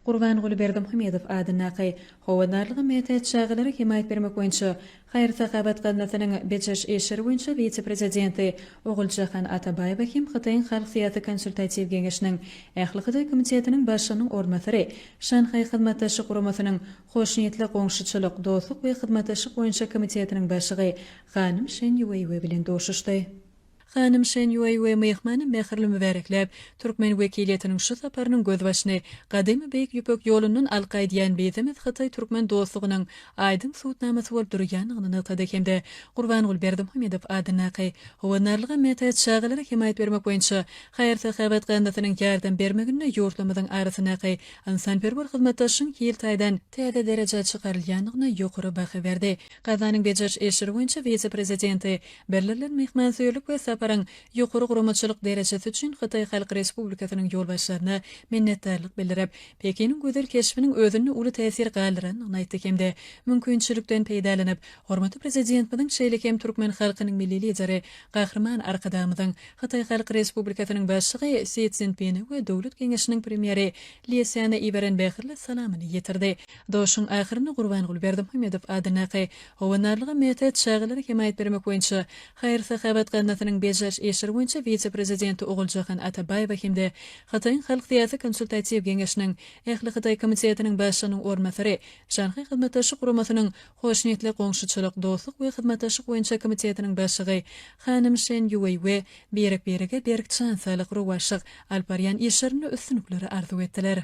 Gurbanguly Berdimuhamedow adyndaky Howandarlyga mätäç çagalara hemaýat bermek boýunça haýyr-sahawat gaznasynyň bejeriş işleri boýunça wise-prezidenti Oguljahan Atabaýewa hem Hytaýyň Halk syýasy konsultatiw geňeşiniň Ähli Hytaý komitetiniň başlygynyň orunbasary, Şanhaý Hyzmatdaşlyk Guramasynyň Hoşniýetli goňşuçylyk, dostluk we hyzmatdaşlyk boýunça komitetiniň başlygy hanym Şen Ýueýue bilen duşuşdy. Hanym Şen Ýuý we myhmany mähirli mübärekläp, türkmen wekiliýetiniň şu saparynyň gözbaşyny gadymy Beýik Ýüpek ýolundan alka aýdýan bizemiz hytaý-türkmen dostlugynyň aýdyň subutnamasy bolup durýandygyny nygtady hem-de Gurbanguly Berdimuhamedow adyndaky Howandarlyga mätäç çagalara hemaýat bermek boýunça haýyr-sahawat gaznasynyň ýardam bermeginde ýurtlarymyzyň arasyndaky ynsanperwer hyzmatdaşlygyň hil taýdan täze derejä çykarylýandygyna ýokary baha berdi. Kazanyň bejeriş işleri boýunça wise-prezidenti bildirilen myhmansöýerlik we saparyň ýokary guramaçylyk derejesi üçin Hytaý Halk Respublikasynyň ýolbaşçylaryna minnetdarlyk bildirip, Pekiniň gözel keşbiniň özünde uly täsir galdyrandygyny aýtdy hem-de mümkinçilikden peýdalanyp, hormatly Prezidentimiziň şeýle hem türkmen halkynyň Milli Lideri, Gahryman Arkadagymyzyň, Hytaý Halk Respublikasynyň Başlygy Si Szinpine we Döwlet Geňeşiniň Premýeri Li Sýana iberen mähirli salamyny ýetirdi. Durşuň ahyrynda Gurbanguly Berdimuhamedow adyndaky Howandarlyga mätäç çagalara hemaýat bermek boýunça haýyr-sahawat gaznasynyň bejäriş işleri boýunça wise-prezidenti Oguljahan Atabaýewa hem-de Hytaýyň Halk syýasy konsultatiw geňeşiniň Ähli Hytaý komitetiniň başlygynyň orunbasary, Şanhaý Hyzmatdaşlyk Guramasynyň Hoşniýetli goňşuçylyk, dostluk we hyzmatdaşlyk boýunça komitetiniň başlygy hanym Şen Ýuweý we birek-birege berk jan saglyk, rowaçlyk, alyp barýan işlerinde üstünlikleri arzuw etdiler.